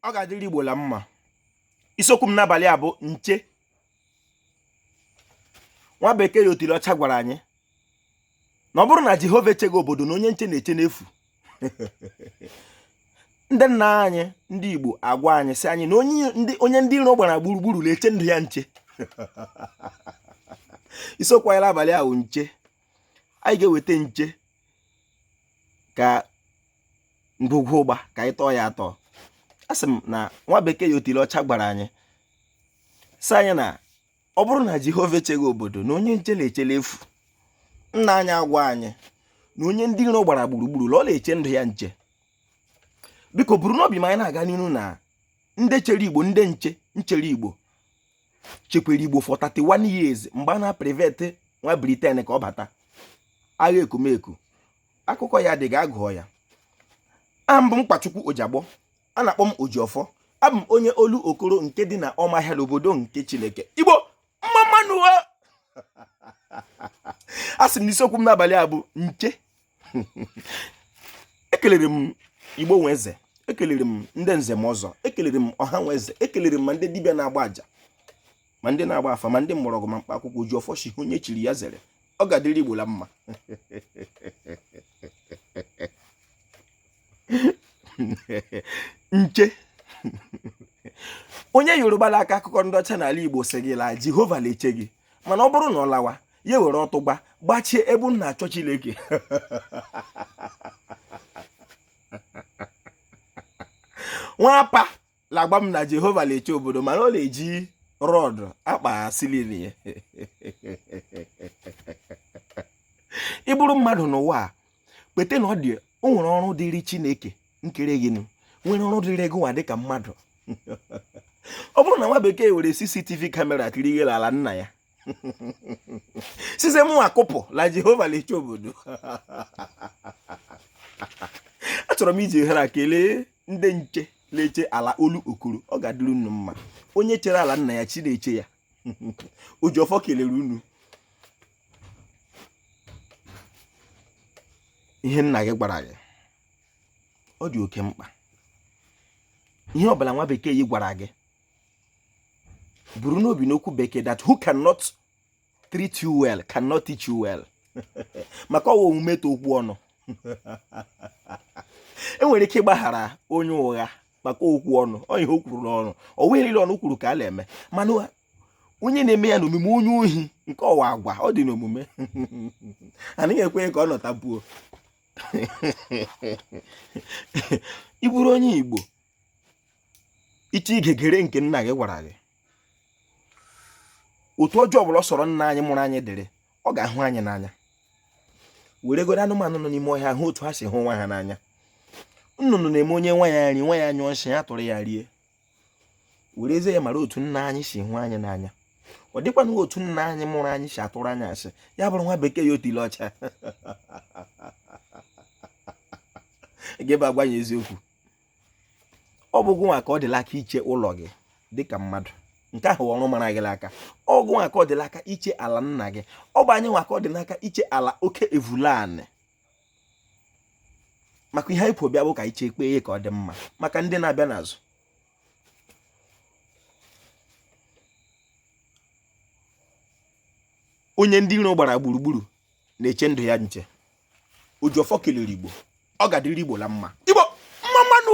ọ ga-adịrị Igbo la mma isiokwu m n'abalị a bụ nche nwa bekee ya otili ọcha gwara anyị na ọ bụrụ na Jehova echeghị obodo na onye nche na-eche n'efu ndị nna anyị ndị Igbo agwa anyị sị anyị na onye ndị iro gbara gburugburu na-eche ndụ ya nche isiokwu anyị n'abalị a bụ nche anyị ga-eweta nche ka ngwugwu ụgba ka anyị tọọ ya atọ a sị m na nwa bekee ya otili ọcha gwara anyị sị anyị na ọ bụrụ na Jehova echeghị obodo na onye nche na-eche l'efu nna anyị agwa anyị na onye ndị iro gbara gburugburu na ọ na-eche ndụ ya nche biko buru n'obi ma anyị na-aga n'ihu na ndị chere Igbo ndị nche nchere Igbo chekwara Igbo for 31 years mgbe a na-prevent nwa Britain ka ọ bata agha Ekumeku akụkọ ya dị ga-agụọ ya abụ m Nkwachukwu Ojiagbọ a na-akpọ m Ojiọfọ abụ m onye Olokoro nke dị na Ọmahịa n'obodo nke Chineke Igbo mma mma nụ o a sị m na isiokwu m n'abalị a bụ nche ekelere m Igbo nwe eze ekelere m ndị nze na ọzọ ekelere m ọha nwe eze ekelere m ma ndị dibịa na-agba aja ma ndị na-agba afa ma ndị mgbọrọgwụ ma mkpa akwụkwọ Ojiọfọ shi ihe onye chiri ya zere ọ ga-adịrị Igbo la mma nche onye Yoruba na-aka akụkọ ndị ọcha n'ala Igbo sị gị la Jehova na-eche gị mana ọ bụrụ na ọ lawa ya were ọtụgba gbachie ebe unu na-achọ Chineke nwa pa la-agwa m na Jehova na-eche obodo mana ọ na-eji rod akpa ceiling ya ị bụrụ mmadụ n'ụwa a kweta na ọ dị o nwere ọrụ dịrị Chineke nkere gị nwere ọrụ dịrị gị nwa dịka mmadụ ọ bụrụ na nwa bekee were CCTV camera kiri ihe ala nna ya sịzie mụwa kwupụ la Jehova la-eche obodo achọrọ m iji ohere a kelee ndị nche na-eche ala Olokoro ọ ga-adịrị unu mma onye chere ala nna ya chi na-eche ya Ojiọfọ kelere unu ihe nna gị gwara gị ọ dị oke mkpa ihe ọbụla nwa bekee yi gwara gị buru n'obi n'okwu bekee that who cannot treat you well cannot teach you well maka ọ wụ omume tọ okwu ọnụ e nwere ike ịgbaghara onye ụgha maka okwu ọnụ ọ ihe o kwuru n'ọnụ ọ wụ ihe niile ọnụ kwuru ka a na-eme mana onye na-eme ya n'omume onye ohi nke ọ wụ agwa ọ dị n'omume anaghị ekwe ka ọ nọtabuo ị bụrụ onye Igbo iche igegere nke nna gị gwara gị otu ọjọọ ọbụla ọ sọrọ nna anyị mụrụ anyị dịrị ọ ga-ahụ anyị n'anya were godo anụmanụ nọ n'ime ọhịa hụ otu ha si hụ nwa ha n'anya nnụnụ na-eme o nye nwa ya nri nwa ya nyụọ nsị ya tụrụ ya rie werezie ya mara otu nna anyị si hụ anyị n'anya ọ dịkwana otu nna anyị mụrụ anyị si atụrụ anyị asị ya bụrụ nwa bekee ya otile ọcha ga-abịa agwa ya eziokwu ọ bụ gụnwa ka ọ dị la aka iche ụlọ gị dịka mmadụ nke ahụ ọrụ mara gị aka ọ gụnwa ka ọ dị la aka iche ala nna gị ọ bụ anyị nwa ka ọ dị n'aka iche ala oke evulanị maka ihe anyị kpụ bịa bụ ka i chekpee ya ka ọ dị mma maka ndị na-abịa n'azụ onye ndị iro gbara gburugburu na-eche ndụ ya nche ojiọfọ kelere igbo ọ ga-adịrị igbo la mma igbo mma mma nụ